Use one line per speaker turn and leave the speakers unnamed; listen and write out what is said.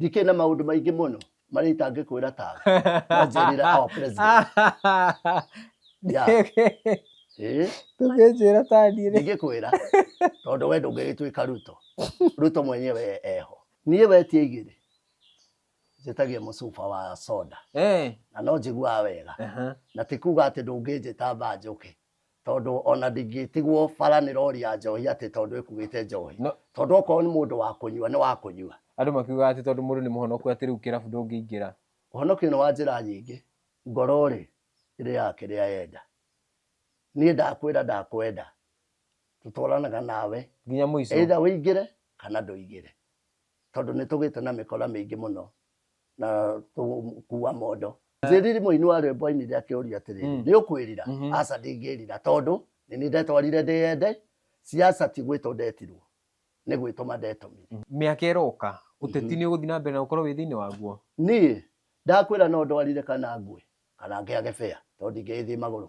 ndikĩrĩ na maũndũ maingĩ mũno marĩa itangĩkwĩra tawe wanjĩrĩra our president Yeah. Eh, tũgĩnjĩra taniĩ rĩ ndingĩkwĩra tondũ we ndũngĩgĩtuĩka ruto ruto mwenyewe eho niĩ wetie igĩrĩ njĩtagia mũcuba wa soda Eh, na no njiguaga wega aha. na ti kuga atĩ ndũngĩnjĩta mbanjũke tondå ona ndingĩtigwo bara nä rori ya njohi atä tondå ä kuä te njohi No- tondå okorwo nä må ndå wa kå nyua nä wa kå nyua andå makiugaga atä tondå må ndå nä må honoku atä rä u kä rabu ndå ngä ingä ra ũhonokio nĩ wa njĩra nyingĩ ngoro rĩ ĩrĩaga kĩrĩa yenda niĩ ndakwĩra ndakwenda tũtwaranaga nawe nginya må ico either ũingĩre kana ndũingĩre tondũ nĩ tũgĩte na mĩkora mĩingĩ mũno na tũkuua mondo njĩriri mũini wa rwĩmbo ainire akĩũria atĩrĩ Mm. nĩ ũkwĩrira Mhm. aca ndingĩrira tondũ nĩ nĩ ndetwarire ndĩyende ciaca ti gwĩtwo ndetirwo nĩ gwĩtũma ndetomire mĩaka ĩroka ũteti nĩ ũgũthiĩ na mbere na ũkorwo wĩ thĩinĩ waguo niĩ ndakwĩra no ndwarire kana ngwe kana ngĩage bea tondũ ndingĩgĩthiĩ magũrũ